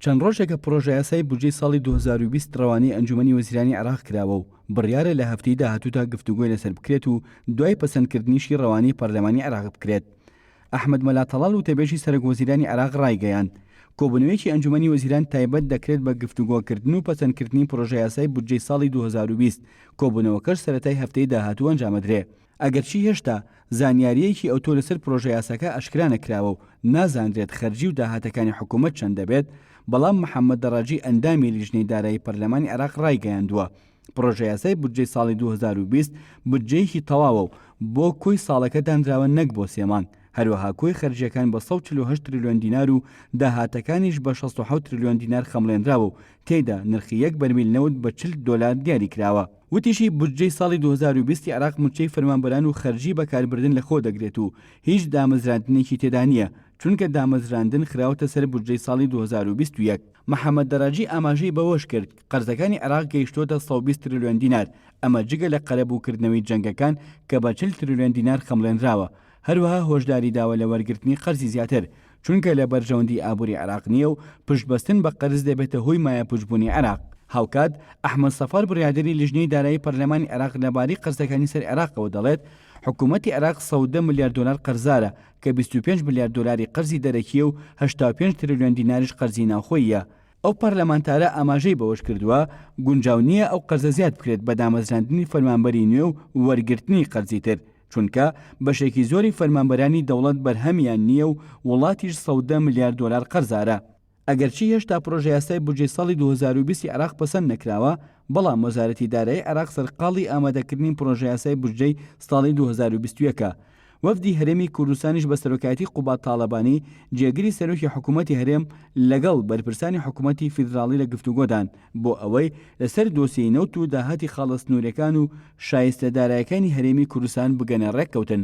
چەند ڕۆژێکە پڕۆژەیاسای بودجەی ساڵی دوو هەزار و بیست ڕەوانەی ئەنجوومەنی وەزیرانی عێراق کراوە و بڕیارە لە هەفتەی داهاتوودا گفتوگۆی لەسەر بکرێت و دوای پەسەندکردنیشی ڕەوانەی پەرلەمانی عێراق بکرێت. ئەحمەد مەلا تەڵال وتەبێژی سەرۆکوەزیرانی عێراق ڕایگەیاند، کۆبوونەوەیەکی ئەنجوومەنی وەزیران تایبەت دەکرێت بە گفتوگۆکردن و پەسەندکردنی پڕۆژەیاسای بودجەی ساڵی دوو هەزار و بیست، کۆبوونەوەکەش سەرەتای هەفتەی داهاتوو ئەنجامەدرێ. ئەگەرچی هێشتا زانیارییەکی ئەوتۆ لەسەر پرۆژەیاساکە ئاشکرا نەکراوە و نازانرێت خەرجی و داهاتەکانی حکوومەت چەند دەبێت، بەڵام محەممەد دەڕاجی ئەندامی لیژنەی دارایی پەرلەمانی عێراق ڕایگەیاندووە، پرۆژەیاسای بودجەی ساڵی دوو هەزار و بیست بودجەیەکی تەواوە و بۆ کۆی ساڵەکە دانراوە نەک بۆ سێ مانگ، هەروەها کۆی خەرجییەکان بە سەد و چل و هەشت ترلیۆن دینار و داهاتەکانیش بە شەست و حەوت ترلیۆن دینار خەمڵێنراوە و تێیدا نرخی یەک بەرمیل نەوت بە چل دۆلار دیاریکراوە. وتیشی، بودجەی ساڵی دوو هەزار و بیست عێراق مووچەی فەرمانبەران و خەرجی بەکاربردن لەخۆ دەگرێت و هیچ دامەزراندنێکی تێدا نییە، چونکە دامەزراندن خراوەتە سەر بودجەی ساڵی دوو هەزار و بیست و یەک. محەمەد دەراجی ئاماژەی بەوەشکرد، قەرزەکانی عێراق گەیشتووەتە سەد و بیست ترلیۆن دینار، ئەمە جگە لە قەرەبووکردنەوەی جەنگەکان کە بە چل ترلیۆن دینار خەمڵێنراوە، هەروەها هۆشداریداوە لە وەرگرتنی قەرزی زیاتر، چونکە لە بەرژەوەندی ئابووری عێراق نییە و پشتبەستن بە قەرز دەبێتە هۆی مایەپووچبوونی عێراق. هاوکات، ئەحمەد سەفار بڕیاردەری لیژنەی دارایی پەرلەمانی عێراق لەبارەی قەرزەکانی سەر عێراقەوە دەڵێت، حکوومەتی عێراق سەد و دە ملیار دۆلار قەرزارە کە بیست و پێنج ملیار دۆلاری قەرزی دەرەکییە و هەشتا و پێنج ترلیۆن دیناریش قەرزی ناوخۆییە. ئەو پەرلەمانتارە ئاماژەی بەوەشکردووە، گونجاو نییە ئەو قەرزە زیاد بکرێت بە دامەزراندنی فەرمانبەری نوێ و وەرگرتنی قەرزی تر. چونکە بەشێکی زۆری فەرمانبەرانی دەوڵەت بەرهەمیان نییە و وڵاتیش سەودە ملیار دۆلار قەرزارە. ئەگەرچی هێشتا پرۆژەیاسای بودجەی ساڵی دوو هەزار و بیست ی عێراق پەسەند نەکراوە، بەڵام وەزارەتی دارایی عێراق سەرقاڵی ئامادەکردنی پرۆژەیاسای بودجەی ساڵی دوو هەزار و بیست و یەک ە. وەفدی هەرێمی کوردستانیش بە سەرۆکایەتی قوباد تاڵەبانی، جێگری سەرۆکی حکوومەتی هەرێم لەگەڵ بەرپرسانی حکوومەتی فیدراڵی لە گفتوگۆدان. بۆ ئەوەی لەسەر دۆسیەی نەوت و داهاتی خاڵە سنووریەکان و شایستە دارایەکانی هەرێمی کوردستان بگەنە ڕێککەوتن.